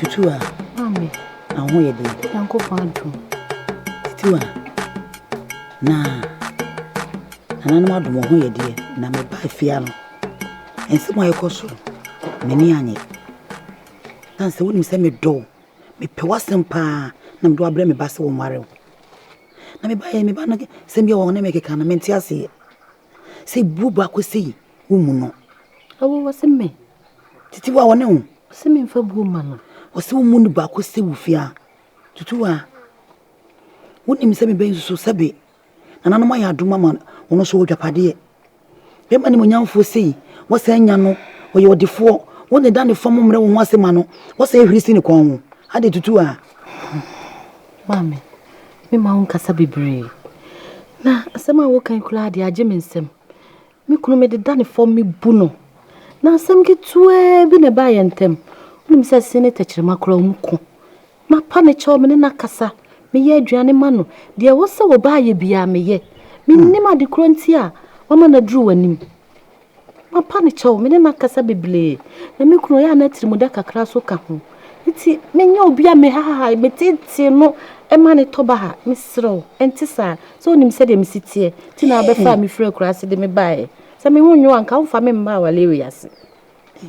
Tutu a. Mami. Aho yɛ den. Yanko fa adum. Tutu a. Na. Nananom adum ho yɛ deɛ na me ba afia no. Nsɛm a ɛkɔ so. M'ani anye. Na sɛ wonim sɛ medɔ o. Mepɛ w'asɛm paa na mede wabrɛ me ba sɛ wɔnware o. Na me ba yɛ me ba no sɛm bi a wɔne me keka no mente aseɛ. Sɛ bu baako sei Wo mu no. Ɛwɔ wɔ se me. Titi wa wɔ ne ho. Ɔse me nfa buo ma no. Ɔse wo mu no baako se wo fia. Tutu wa. Wo nim sɛ me bɛ nsusu sɛ be. Nananom ayɛ adom ama wɔn so wɔ dwapadeɛ. Bɛma ne monyamfoɔ sei. Wɔsɛ anya no. Ɔyɛ ɔdefoɔ. Wo ne da ne fam mmerɛ wo ho ase ma no. Wɔsɛ hwiri si ne kɔn ho. Ade tutu a. Maame, me ma wo nkasa bebree. Na asɛm a wo kan koraa deɛ agye me nsam. Me kunu, mede da no fam mebu no. Na asɛm ketewaa bi na ɛbaa yɛn ntam. Wonim sɛ ɛse ne tɛkyerɛma koraa ɔmu ko. Mapa ne kyɛw, me ne no akasa, meyɛ aduane ma no. Deɛ ɛwɔ sɛ ɔba ayɛ biara meyɛ. Mennim hmm. ade korɔ nti a wama no aduru w'anim. Mapa ne kyɛw, me ne no akasa bebree. Na me kunu ɔyɛ a na atirimuda kakra so ka ho. Nti menyɛ obi a mehahae, meteetee no ma no tɔ baha? Mesrɛ wo, ɛnte saa. Sɛ wonim sɛdeɛ mesi teɛ nti na wobɛfaa me firii akuraase de me baeɛ. Sɛ me ho nnwo a, anka womfa me mmaa awareɛ wei ase.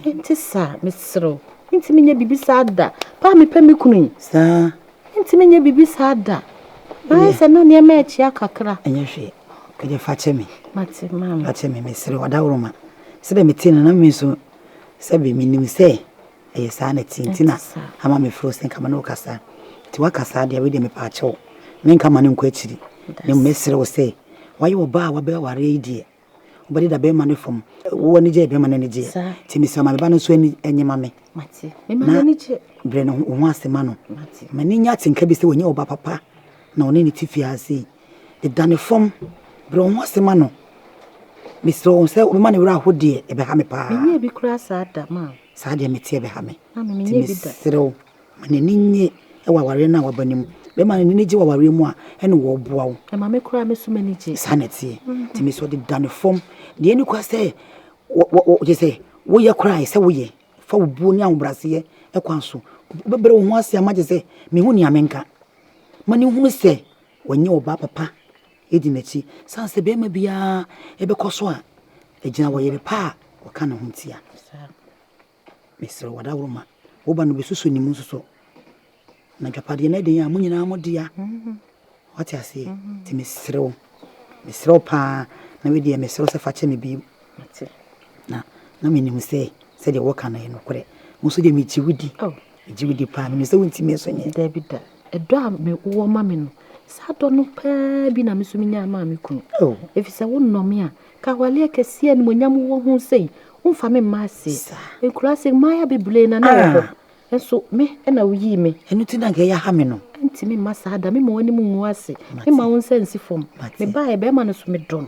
Ɛnte saa, mesrɛ wo. Mentumi nyɛ biribi saa da. Paa mepɛ me kunu yi. Saa. Mentumi nyɛ biribi saa da. Na ayɛ sɛ na nneɛma akyia kakra. Ɛnyɛ hwee. Ɛdeɛ fa kyɛ me. Mate, maame. Fa kyɛ me, mesrɛ wo, adaworoma. Sɛdeɛ metee no na me nso, sɛbe menim sɛ Ɛyɛ saa na ɛte nti na ama mefrɛ wo sɛ nka me ne wo kasa. Nti woaka saa deɛ, wei deɛ mepɛ akyɛ wo. Menka ma no nkɔ akyiri. Na mmom mɛsrɛ wo sɛ, woayɛ ɔbaa a wabɛ awareɛ yi deɛ, wobɛde da bɛrima no fam. Wo ani gyeɛ, bɛrima no ani gyeɛ. Nti mesrɛ wo ma me ba no nso ani nnye ma me. Na brɛ no wo ho ase ma no. Ma no nya atenka bi sɛ wanya ɔba papa na ɔne no te fie ha sei. Deda ne fam. Brɛ wo ho ase ma no. Mesrɛ wo sɛ wobɛma ne werɛ aho deɛ, ɛbɛha me paa. Saa deɛ mete ɛbɛha me. Nti mesrɛ wo ma n'ani nnye wɔ awareɛ no a waba no mu. Bɛrima no ani no gye wɔ awareɛ mu a, ɛne wɔ boa wo. Ɛma me koraa me so m'ani gye. Saa na ɛteɛ. Nti mesrɛ wo de da no fam. Deɛ ɛni kwa sɛ gye sɛ woyɛ koraa ɛsɛ woyɛ. Fa wo buo ne ahobrɛaseɛ kwan so. Wobɛbrɛ wo ho ase ama gye sɛ mehu nea menka. Ma no nhunu sɛ wanyɛ ɔbaa papa di n'akyi esiane sɛ barima biara bɛkɔ so a agyina ɔyere pa a ɔka ne ho ntia. Mesrɛ wo, daworo ma wo ba no bɛsusu ne mu nso so. Na dwapadeɛ no ɛde yɛn a mo nyinaa mo dea. Wate aseɛ? Nti mesrɛ wo, mesrɛ wo paa na wedeɛ mesrɛ wo sɛ fa kyɛ me bi Mete, na na menim sɛ sɛdeɛ woka no yɛ nokorɛ. Wo nso deɛ megye wo di, oh. megye wo di paa, menim sɛ wontumi nso nyɛ. Dabi da, ɛdɔ a mewɔ ma me no, saa dɔ no paa bi na me nso menya maa me kunu. Oh. Ɛfiri sɛ wonnɔ me a, ka awaleɛ kɛseɛ animuonyam wɔ ho sɛi, womfa me mma aseɛ. Nkura sɛ mmaaya bebree na na wɔ hɔ. Ah. Nso me ɛna woyii me. Ɛno ti na nka ɛyɛ ha me no. Ntimi mma saa da, mema w'anim ngu ase, mema wo nsa nsi fam. Mebaeɛ bɛrima no so medɔ no.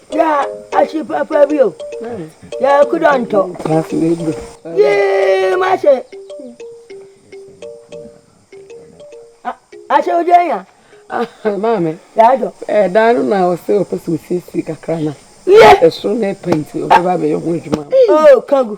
Yɛ ahye papa bi o. Yɛ kudɔ ntɔ. Yee ma se. Ahye oje nya. Maame. Yɛ adɔ. Ɛdan no na ɔsɛ ɔpɛ sɛ osiesie kakra na. Yɛ. Ɛsoro na ɛpɛ nti ɔbɛba abɛyɛ ho adwuma. Oo kangu.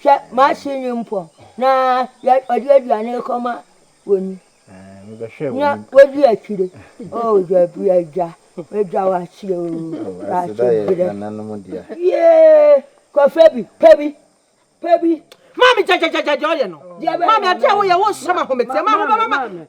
Hwɛ, m'ase nni mpɔn, na wɔde aduane rekɔma wɔn ni, na wodi akyire. Oh, dabi, Agya, Agya, wɔakyɛ o, wɔakyɛ brɛ. Yiee, kɔfa bi, pɛ bi, pɛ bi. Maame, gyagyagyagya deɛ ɔyɛ no. Maame, adeɛ a woyɛ, wonsɔ m'ahometeɛ, m'ahobamama.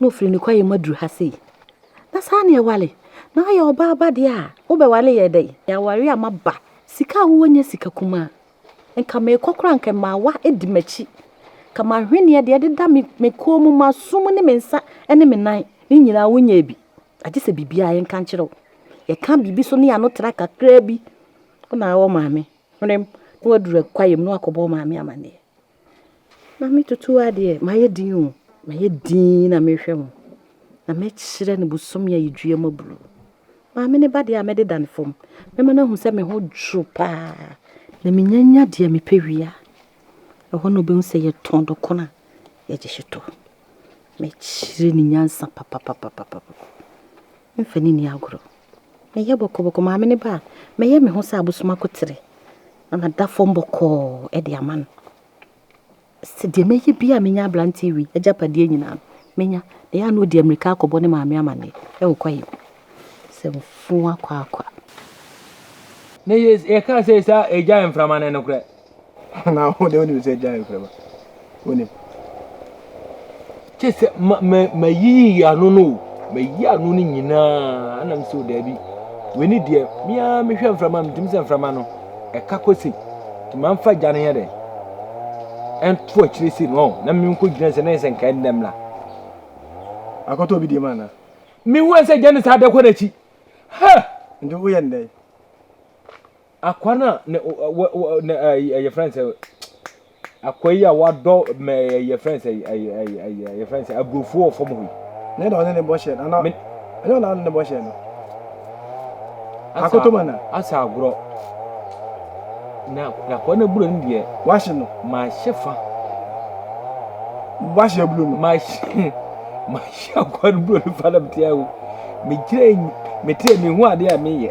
na ɔfiri ne kwaeɛ mu aduru ha sei na saa na ɛwale na ayɛ ɔbaa ba deɛ a wobɛwale yɛ dɛn yɛaware a maba sika a wowɔ nyɛ sika kumaa nka meekɔ koraa nka mmaawa di m'akyi ka mahweneɛ deɛ ɛdeda me me kɔn mu m'aso mu ne me nsa ne me nan ne nyinaa wonyɛɛ bi agye sɛ biribiara yɛnka nkyerɛ wo yɛka biribi so ne yɛano tra kakraa bi wona wɔ maame hwenem na waduru kwaeɛ mu na wakɔbɔ maame amanneɛ Maame Tutu adeɛ mayɛ din o, mayɛ din na merehwɛ mo. Na mɛkyerɛ no bosome a yɛdua mu aburo. Maame no ba deɛ a mɛdeda no fam. Mɛma no ahu sɛ me ho dwo paa. Na menyanya deɛ mepɛ wie a, ɛhɔ na ɔbɛhu sɛ yɛtɔn dɔkono a yɛgye hyetɔ. Mɛkyerɛ no nyansa papapapapapa. Mfa no nni agorɔ. Mɛyɛ bɔkɔbɔkɔ maame ne ba a, mɛyɛ me ho sɛ abosom akotere na mada fam bɔkɔɔ de ama no. Sɛ deɛ mɛyɛ bi a menya aberante wi agyapadeɛ nyinaa no, menya. Na ɛyɛ a na ɔdi amirika akɔbɔ ne maame amanneɛ ɛwɔ kwaeɛ mu sɛ mfuo akwaakwa. Ne yɛ yɛkaa sɛ saa agya mframa no nokorɛ. Na wo deɛ wonim sɛ gyae mframa wonim kyɛ sɛ ma ma mayiyi ano no o mayi ano no nyinaa ana mesɛ o daabi w'ani deɛ meaa mehwɛ mframa metim sɛ mframa no ɛka kɔ sei nti mamfa gya no yɛ dɛ ɛnto akyire sei no na menkɔ gyina sɛ na yɛ sɛ nka ɛndɛm la akɔtɔ obi deɛ ma anaa mehu sɛ gya no saa dɛ kɔ n'akyi ha nti woyɛ ndɛn Akoa no a ne ne ɛyɛ yɛfrɛ no sɛ akoa yi a wadɔ mɛ yɛfrɛ no sɛ ɛyɛ yɛfrɛ no sɛ aburofo wɔ fam hɔ yi. Ne na ɔne ne bɔ hyɛ no ana ɛnyɛ ɔna ne ne bɔ hyɛ no akoto ma na asa agorɔ na akoa no aburo no deɛ wahye no mahyɛ fa wahye aburo no mahyɛ mahyɛ akoa no buro no fa na metia o megyina mete mehu adeɛ a meyɛ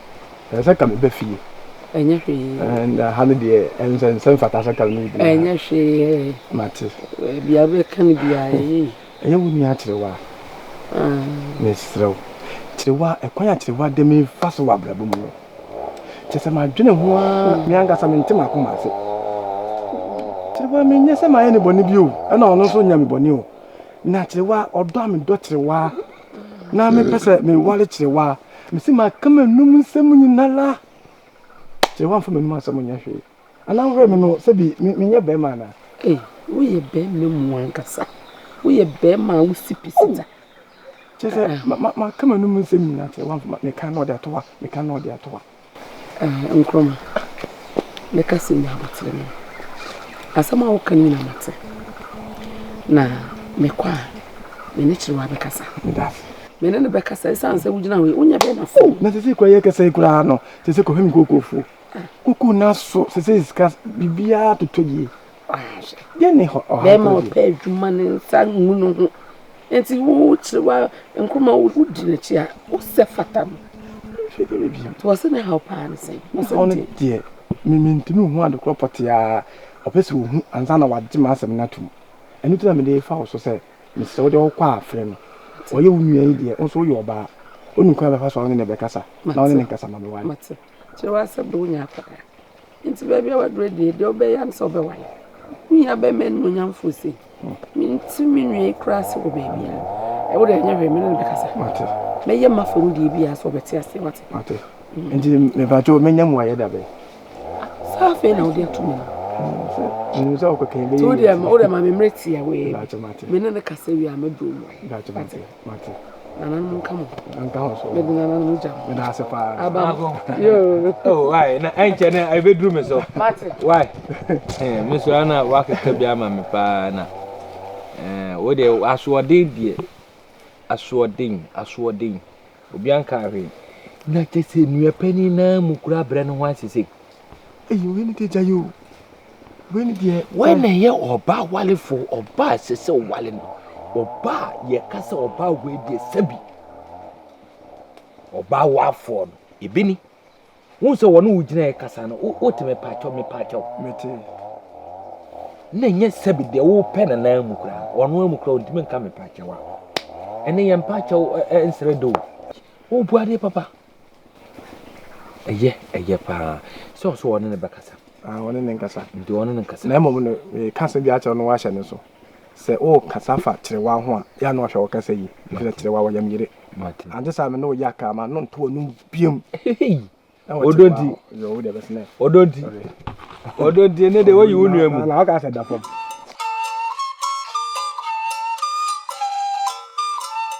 Ɛɛ sɛ ka me bɛ fie. Ɛnyɛ hwee. Ɛɛ na ha no deɛ ɛnsɛ nsɛ mfata sɛ ka me bɛ fie. Ɛnyɛ hwee. Mate. Ɛbi a bɛka no bi a ɛyɛ. Ɛyɛ wo nua kyerewa. Mesrɛ wo. Kyerewa ɛkwan a kyerewa de me fa so wɔ abrabɔ mu no. Kyɛ sɛ madwene ho ara me ankasa mente m'akoma ase. Kyerewa menyɛ sɛ mayɛ ne bɔne bi o. Ɛna ɔno nso nyɛ me bɔne o. Na kyerewa ɔdɔ a medɔ kyerewa na mepɛ sɛ meware kyerewa a, mese maka m'anum nsɛm nyinara kyerewa mfa m'anum asɛm nyɛ hwee anaa wowerɛ me no sɛ bi menyɛ bɛrima anaa ei woyɛ bɛrima mu ankasa woyɛ bɛrima a wosi pisita kyerɛ sɛ maka m'anum nsɛm nyinaa kyerewa mfa meka na ɔde atoa meka na ɔde atoa Ɛɛ, Nkrumah, me kasa nni abotire no. Asɛm a woka no nyinaa mate. Na mekɔ a, me ne Kyerewa bɛkasa. Daabi. Me ne no bɛkasa esiane sɛ wogyina hɔ yi, wonyɛ dɛn na sɛ. Na sese kura yɛ kasa yi koraa no, sese kɔhwɛ me kookoofoɔ. Kuku na so sese sika biribiara totɔ yie. Bɛrima a ɔpɛ adwuma ne nsa ngu ne ho nti wokyerɛ wa nkruma wodi n'akyi a wosɛ fata no nti wɔse ne haw paa ne sɛn haw no deɛ mentumi nhu ade korɔ pɔteaa ɔpɛ sɛ ɔhu ansa na wagye m'asɛm no atom ɛno nti na mede fa wo so sɛ mesrɛ wode wokɔ a frɛ no ɔyɛ wo nua yi deɛ wo nso woyɛ ɔbaa wonim kwan bɛfa so a wone ne bɛkasa na wone ne nkasa ma meware kyerɛ w'asɛm de wonya akɔdaa Enti baabi a waduru adie, deɛ ɔbɛyɛ ara ne sɛ ɔbɛwae. Wo nua bɛma animuonyamfoɔ se, Mente me nua yi koraa ase wɔ baabiara. Wo deɛ ɛnyɛ hwee, me ne no bɛkasa. Mɛyɛ mafa mu deɛ biara sɛ ɔbɛte aseɛ. Wate? Nti mepakyɛw menya mu ayɛ da bɛn? Saa afei na wode ato mu no. Menim sɛ ɔkɔkɛn bɛyɛ. Nti wo deɛ ma me mmerɛ tia wei. Me ne no kasa wie a mɛduru mu. Mate. Nananom nka mo. Nka ho so. Mede nananom gya mo. Meda ase paa. Aba mo. Yoo. Oh, why? Na ɛnkyɛ na ɛbɛduru me so. Mate. Why? Eh, me so ana wakeka bi ama me paa na. Eh, wo deɛ asoɔden deɛ. Asoɔden, asoɔden. Obi anka ahwee. Na kyɛ sɛ nua panin naa mu kura brɛ no ho asese. Eyi wei ne deɛ gya yi o. Wei ne deɛ. Wei na ɛyɛ ɔbaa walefo ɔbaa ɛsɛ sɛ ɔwale no ɔbaa yɛka sɛ ɔbaa wei deɛ sɛbi ɔbaa wafoɔ no ebi ni wọn sɛ wɔn wo gyina yɛ kasa no wote me paakyɛw me paakyɛw. mete. na nyɛ sɛbi deɛ wopɛ na nan mu koraa wɔn amu koraa ntumi nka me paakyɛw a ɛne yɛn paakyɛw nsrɛ do o wobua deɛ papa. Ɛyɛ, ɛyɛ paa. Sɛ ɔsɛ ɔne ne bɛkasa. Ah, ɔne ne nkasa. Nti ɔne ne nkasa. Na mmom no, meka asɛm bi akyerɛ no wahyɛ ne so. Sɛ wokasa fa kyerewa ho a, yɛ a na wahwɛ wokasa yi. Ɛfisɛ kyerewa wɔ yam yere. Ante saa me ne woyɛ aka ma no nto ɔnom biam. Ɔdɔ nti. Yɛ wo deɛ bɛsenɛ. Ɔdɔ nti. Ɔdɔ nti, ɛne de woyi wo nua mu. Na woka sɛ da fam.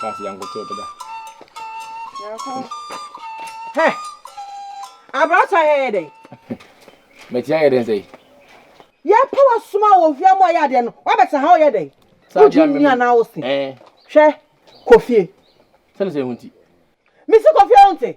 Kasi yankoto to da. Yanko. Hɛ. Abrata yɛ yɛ dɛn? Metia yɛ dɛn sɛ yi? Yɛ pa wa suma wɔ hwia mu ayɛ adeɛ no. Wa bɛ sɛ ha ɔyɛ dɛn? Wo gye nni anaa wo se? Hwɛ, kofie. Sɛne sɛ ehunti. Mesi kofie wo nte?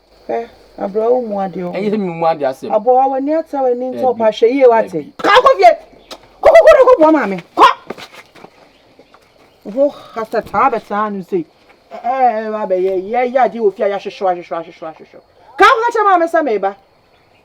Hwɛ, abrɛ wo mu adeɛ ɔho. Ɛyɛ nnu mu adeɛ asɛm. Aboa, w'ani ate w'ani nti ɔpa hwɛ yie wate. Kaa kɔ fie. Kɔ kɔ kɔ na kɔ boa maame. Kɔ. Ho hata taa bɛ taa no sei. Ɛɛ ba bɛ yɛ yɛ yɛ adeɛ wɔ fie a yɛ ahwehwɛ ahwehwɛ ahwehwɛ ahwehwɛ. Kaa kɔ kyɛ maame sɛ meba.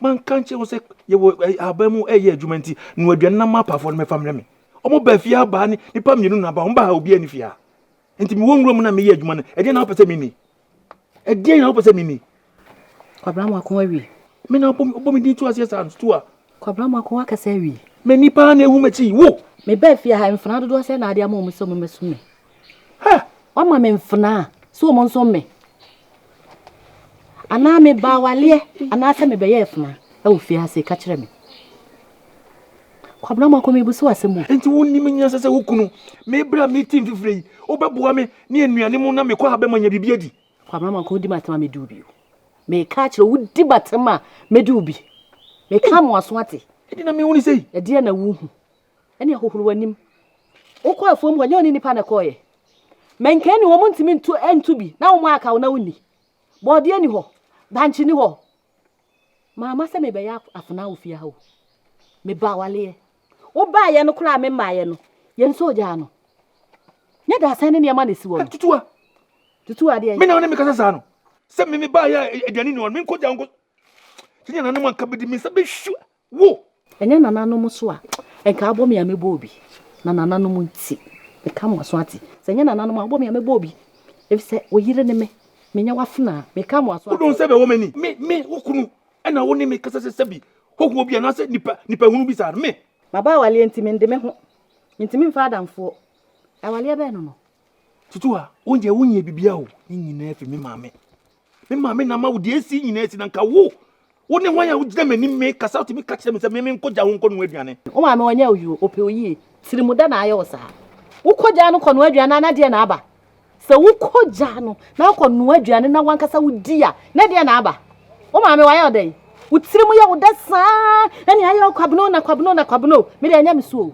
Manka nkyerɛ wo sɛ yɛwɔ ahaban mu ɛyɛ adwuma nti no aduane na ma apaafoɔ no mɛfa mmerɛ me. Ɔmo baa fie ha baa ne nipa mmienu na aba ɔmo baa ha obiara ni fie ha. Nti mewɔ nwura mu na meyɛ adwuma no ɛdeɛn na wopɛ sɛ menni? Ɛdeɛn na wopɛ sɛ menni? Kwabena Mako awie. Me na wobɔ me din to aseɛ saa nso to a. Kwabena Mako wakasa awie. M'ani paa na ehu m'akyi wo. Mebaa fie ha mfenaa dodoɔ sɛn na wode ama ɔmo sɛ ɔmo mmɛso me? Ha! Wama me mfenaa sɛ wɔn nso mme. Anaa meba awaleɛ anaasɛ mebɛyɛ afenaa wɔ fie ase ka kyerɛ me. Kwabena Mako mebu so asɛm o. Nti wonim nyansa sɛ wo kunu me berɛ a mete mfifire yi wobɛboa me ne anuane mu na mekɔ ha bɛma nya biribi adi. Kwabena Mako wodi m'atem a mɛdi wo bi o. Meka akyerɛ wodi m'atem a mɛdi wo bi. Meka mo aso ate. Ɛdeɛ na mehunu sei. Ɛdeɛ na wohu. Ɛnneɛ hohoro w'anim. Wokɔ afuom hɔ, ɛnyɛ wo ne nnipa na ɛkɔeɛ? Manken nni hɔ, montumi ntu ntu bi, na wɔaka wo na wonni? Bɔɔdeɛ nni hɔ, bankye nni hɔ. Mamma sɛ mebɛyɛ afenaa wɔ fie ha o. Mebaa awaleɛ. Wobaeɛ no koraa a memmaeɛ no, yɛn nso ogyaa no. Nyɛ dasɛn ne nneɛma na ɛsi hɔ no. Tutuwa! Tutuwa deɛ? Me na wo ne me kasa saa no? Sɛ me mebaeɛ a aduane nni hɔ no, menkɔgya wo nkɔ. Sɛdeɛ nananom anka bɛdi, me nsa bɛhwi Wo! Ɛnyɛ nananom nso a, nka abɔ me a mɛbɔ obi. Na nananom nti, meka mo aso ate. Sɛ ɛnyɛ nananom a, abɔ me a mɛbɔ obi. Efisɛ wo yere ne me, menyɛ w'afenaa. Meka mo aso ate. Wo dɔnsɛ bɛwɔ m'ani. Me, me, wo kunu, ɛna wo ne me kasa sɛ sɛbi hohoɔ bi anaasɛ nipa, nipahunu bi saa no. Me! Maba awaleɛ nti, mende me ho. Mentumi mfa adamfoɔ. Awaleɛ bɛn no no? Tutu ha, wo deɛ wonyɛ biribiara o, ne nyinaa fi me maame. Me maame na ama wo deɛ esi nyinaa esi na nka wo. Wo ne hwan a wogyina m'anim mekasa wotumi ka kyerɛ me sɛ me menkɔgya wo nkɔnoa aduane. Wo maame ɔnyɛ wo yere o, ɔpɛ wo yie. Tirimuda na ayɛ wo saa. Wokɔgyaa no kɔnoa aduane a na deɛn na aba? Sɛ wokɔgyaa no na akɔnoa aduane na w'ankasa wodi a, na deɛn na aba? Wo maame wayɛ wo dɛn? Wo tirim yɛ wo dɛ saa ɛne ayɛ wo Kwabena o na Kwabena o na Kwabena o. Me deɛ ɛnyɛ me so o.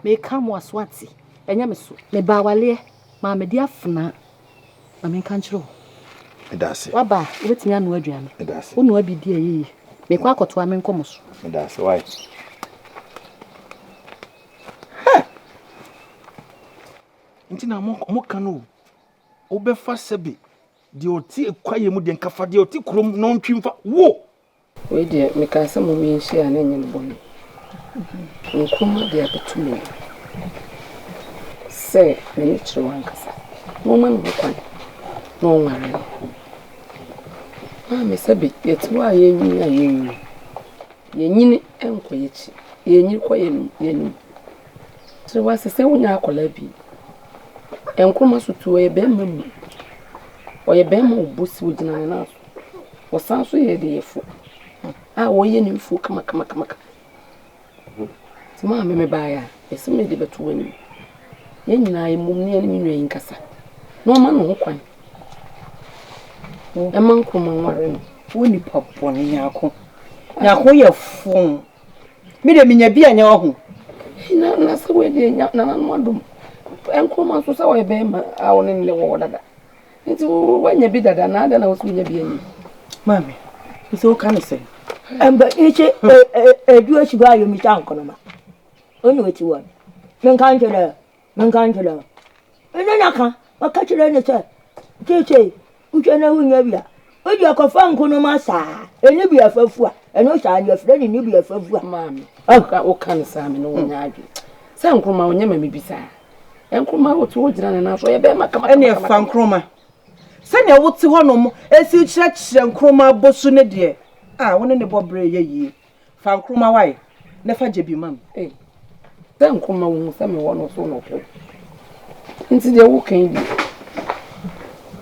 Meka mo aso ate. Ɛnyɛ me so. Meba awaleɛ maa medi afenaa ma menka nkyerɛ wo. Meda ase. Waba a, wobɛtumi anoa aduane. Meda ase. Wonoa bi di a ɛyɛ yie. Mekɔ akɔtoa me nkɔmmɔ so. Meda ase. Why? Hɛ! Nti na mo mo ka no o. Wobɛfa sɛbe deɛ ɔte kwaeɛ mu deɛ nka fa deɛ ɔte kurom na ɔntwi mfa wo. Wei deɛ mekaa sɛ mom yɛnhyia a na ɛnyɛ me bɔne. Nkrumah de abɛto me mu sɛ me ne Kyerɛw ankasa na ɔmma me ho kwan na ɔnware me. Maame Sabi, yɛte hɔ a yɛnnyini a yɛnnyini. Yɛnyini nkɔ yɛakyi, yɛnyini kɔ yɛanim. Kyerɛ w'ase sɛ wonya akwadaa bi. Nkrumah so tu, ɔyɛ barima mu. Ɔyɛ barima a ɔbɔ si, ɔgyina ne nan so. Wɔsan nso yɛ adiyifo a wɔyɛ nnwinfo kamakamaka. Nti mo a me mebaeɛ a, mese mede bɛto mo anim. Yɛn nyinaa yɛmmom na yɛne me nua yi nkasa na ɔma ne ho kwan ɛma Nkrumah nware no. Wo nipa bɔne Nyarko. Nyarko yɛ foo. Me de menya bi a nyɛ wahu. Na na sɛ wei deɛ nananom adom. Nkrumah nso sɛ ɔyɛ bɛrima a ɔne ne wɔ hɔ dada. Nti woanya bi dada na adɛn na wo so wonya bi anyi? Maame, nso woka ne sɛn? Mba ichi edu echi hɔ a yomisa nkonoma. Onye wati wɔn. Menka nkyerɛ ɛ, menka nkyerɛ ɛ. Ɛno na ka, ɔka kyerɛ ne sɛ, seesei wohwɛ na wonnya bi a, Obi ɔkɔfa nkonoma saa ɛni bi afa fu a ɛno saa no yɛfrɛ no ɛni bi afa fu a. Maame oh wo ka no saa me ne wo nyɛ adwene sɛ nkroma ɔnyɛ ma me bi saa nkroma otu hɔ gyina ne nan so ɔyɛ bɛrima kama kama kama. Ɛneɛ fa nkroma sɛdeɛ wo te hɔ nom ɛsi kyerɛkyerɛ nkroma bɔ su ne deɛ a wo ne ne bɔ berɛ yɛ yie. Fa nkruma wae na fa gye bi ma me. Ei, dɛn nko ma wuhu sɛ mewɔ no so no pɛ? Enti deɛ woka yi deɛ,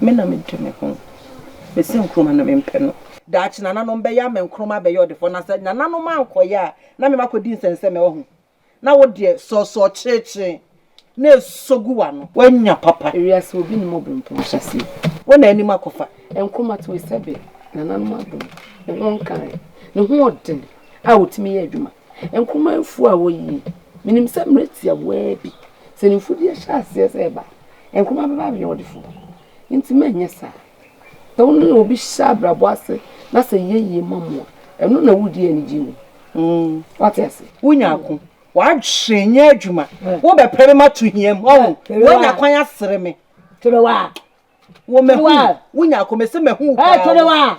me na mede me ho bɛsi nkruma no mempɛ no. Daakye nananom bɛyɛ ama nkruma abɛyɛ ɔdefoɔ, na sɛ nananom ankɔyɛ a, na memakɔdi nsɛnsɛm, ɛwɔ ho. na wo deɛ sɔɔsɔɔ kyerekyere na ɛsɔ gu w'ano. Woanya papa. Ewiase obi nnim obirɛmpɔn nhyɛaseɛ. Wo na anim akɔfa. Nkrumah to yi sɛbe nananom adom ne ho nkae ne hoɔden a ɔtumi yɛ adwuma. Nkrumah mfuo a woyi yi, menim sɛ mmerɛ tiawaa bi sɛ ne mfudeɛ hyɛ aseɛ sɛ ɛba a, Nkrumah bɛba abɛyɛ ɔdefoɔ. Nti manyɛ saa. Ɛno na obi hyɛ abrabɔ ase na sɛ ɛyɛ yie ma mo a, ɛno na wodi anigye wɔ mu. Wate ase? Wonya ako. W'adwene nyɛ adwuma. Wobɛpere me mato hia mu. Ɔho, woanya kwan asere me. Terewa. Wo mahu. Wonya ako. Mese mahu wo paa. Terewa.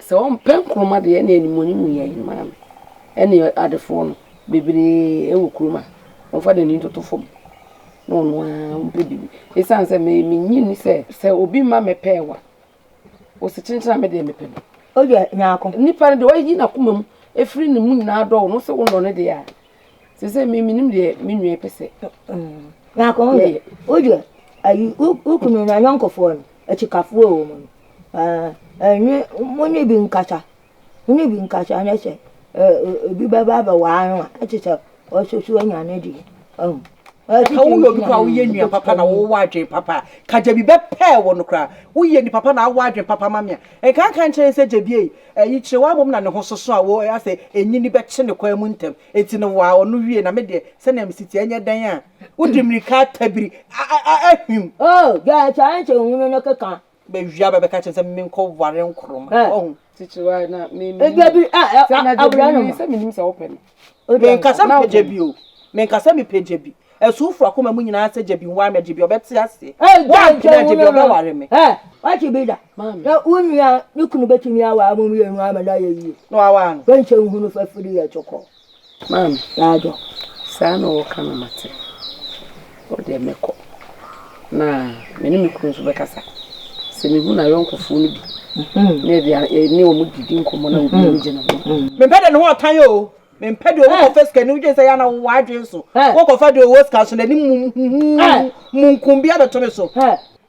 Sɛ ɔmpɛ nkruma deɛ ɛne animuonyam mu yɛn maa no ɛne adefoɔ no bebree ɛwɔ kurom a ɔmfa n'ani ntoto fam na ɔno ara ɔmpɛ biribi ɛsiane sɛ me menye nni sɛ sɛ obi mma me pɛɛwa ɔsi kyenkyen a me deɛ mepɛ no. Ɔyɛ nyaako. Nipa no deɛ ɔyi n'akoma mu ɛfiri ne mu nyinaa dɔ wo no sɛ wonɔ no deɛ a Te sɛ me menim deɛ me nua yi pɛ sɛ na akɔ ho deɛ wodeɛ ayi wo kunu no anyɔnkofoɔ no akyikafoɔ wɔ mu no ɛnwe mo ne bi nkasa mo ne bi nkasa ne sɛ ebi bɛba abɛwaa no a ɛte sɛ ɔsoso anya ne deɛ ɔhu sɛ woyɛ obi koraa woyɛ nua papa na wowɔ adwene papa ka gyabi bɛpɛɛ wɔ no koraa woyɛ ni papa na awɔ adwene papa ma me a nkanka nkyerɛ sɛ gyabie Eyi kyerɛ wo ara mmom na ne ho soso a wo ara sɛ enyini bɛkye ne kwan mu ntɛm. Enti no waa ɔno wiei, na me deɛ, sɛnea mesi teɛ, ɛnyɛ dɛn a wode mmirika atabiri ahwim. Oh, gya kyɛ a nkyɛ ohunu no keka. Bɛwia ba bɛka kyerɛ no sɛ menkɔware Nkrumah. Woahu? Tikyiwaa, na menim. Dabi, ah, ah, ah, awura no ma. Sɛ menim sɛ wopɛ no. Menka sɛ mepɛ gyabi o, menka sɛ mepɛ gyabi. Asuufo akoma mu nyinaa sɛ gyabi nware me, gyabi a ɔbɛte ase. Woampene a, gyabi a ɔbɛware me. Woate bi da? Sɛ wo nua ne kunu betumi aware mo mmienu ama no ayɛ yie. Na waware no. Woankyɛ nhu no fafiri yɛ tokɔ. Maame. Yɛ adwo. Saa na wɔka no mate. Hɔ deɛ mɛkɔ na me ne me kunu nso bɛkasa. Sɛ mehu n'ayɔnkofoɔ no bi na ebi a ne wɔn didi nkɔmmɔ na obi ani gye ne ho. Mempɛ deɛ ne ho ɔtan o. Mempɛ deɛ ɔwɔ kɔfa sika ni wodwen sɛ yɛ na wowɔ adwen so. Wokɔfa deɛ ɔwɔ sika so n'anim huhuuhu munkum bi abɛto me so.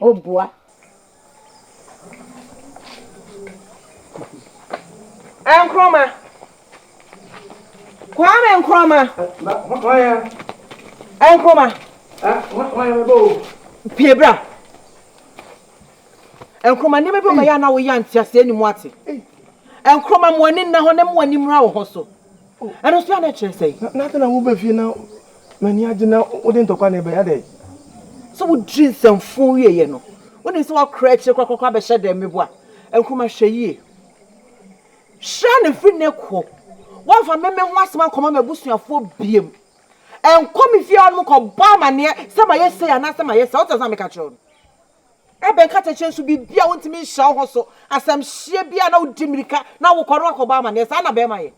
O boa. Nkrumah. Kwame Nkrumah. Hwan ya? Nkrumah. Hwan ya mebɔ o? Pie bra. Nkrumah nneɛma bi wɔ bɛyɛ a na woyɛ anteaseɛ ne mu ate. Nkrumah mo ani nna hɔ na mo ani mmra wo ho so. Oh, ɛno nso a na ɛkyerɛ sɛn? Na na afei na woba fie na m'ani agye na wode ntɔkwa na ɛbɛyɛ adɛn? Sɛ wodwiri nsɛmfoo wieeɛ no, wonim sɛ woakora akyire korakora abɛhyɛ dɛn, meboa? Nkrumah, hwɛ yie. Hyira no firi nnɛ kɔ, woamfa me me ho asɛm ankɔma m'abusuafoɔ biom. Nkɔ me fie hɔnom nkɔbɔ amanneɛ sɛ mayɛ sei anaasɛ mayɛ saa, wote aseɛ a meka kyerɛ wo no? Ebɛn kasakyerɛ su biribi a wontumi nhyɛ wo ho so, asɛmhyeɛ bi a na wodi mmirika na wokɔ na woakɔbɔ amanneɛ? Saa na bɛrima yɛ.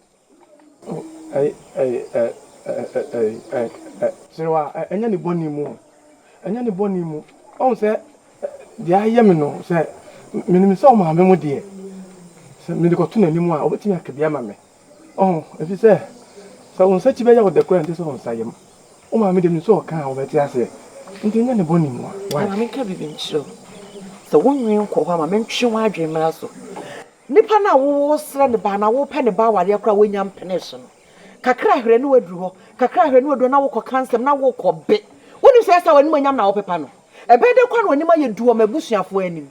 Serew a, ɛnyɛ ne bɔne mu o, ɛnyɛ ne bɔne mu. Woahu sɛ deɛ ayɛ me no, sɛ menim sɛ ɔmaame mo deɛ, sɛ mede kɔto n'anim a, ɔbɛtumi aka bi ama me. Ɔho, efisɛ sɛ wo nsakyi bɛyɛ wo dɛ koraa a, ɛnsɛ sɛ wo nsa yam. Wo maame de, nsu a ɔka a wobɛte aseɛ nti nyɛ ne bɔne mua. Why? Ma menka biribi nkyerɛ wo. Sɛ wo nwene nkɔ hɔ a, ma mentwe w'adwene mmra so. Nipa no a woresrɛ ne ba anaa worepɛ ne ba awareɛ koraa a wonya mpenee so no, kakra a hwrɛ na waduru hɔ, kakra a hwrɛ na waduru hɔ na wokɔ ka nsɛm na wokɔ be. Wonim sɛ ɛyɛ sɛ w'animuonyam na wopepa no. Ɛbɛyɛ dɛ koraa na w'anim ayɛ du wɔ m'abusuafoɔ anim.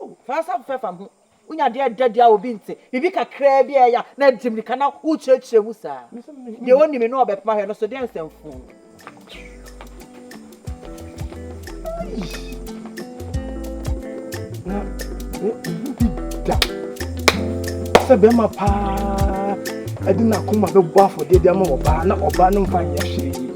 O, fa nsa fɛfɛ fa ho. Wunya ade a ɛda adi a obi nte, biribi kakraa bi a ɛyɛ a, na adi mmirika na wokyerɛkyerɛ mu saa. Deɛ onni me na ɔbɛpem ahwɛ no so deɛ nsɛ mfoo no. Na wo bi da sɛ bɛrima paa ɛde n'akoma bɛbɔ afɔdeɛ de ama ɔbaa na ɔbaa no mfa nyɛ hwee.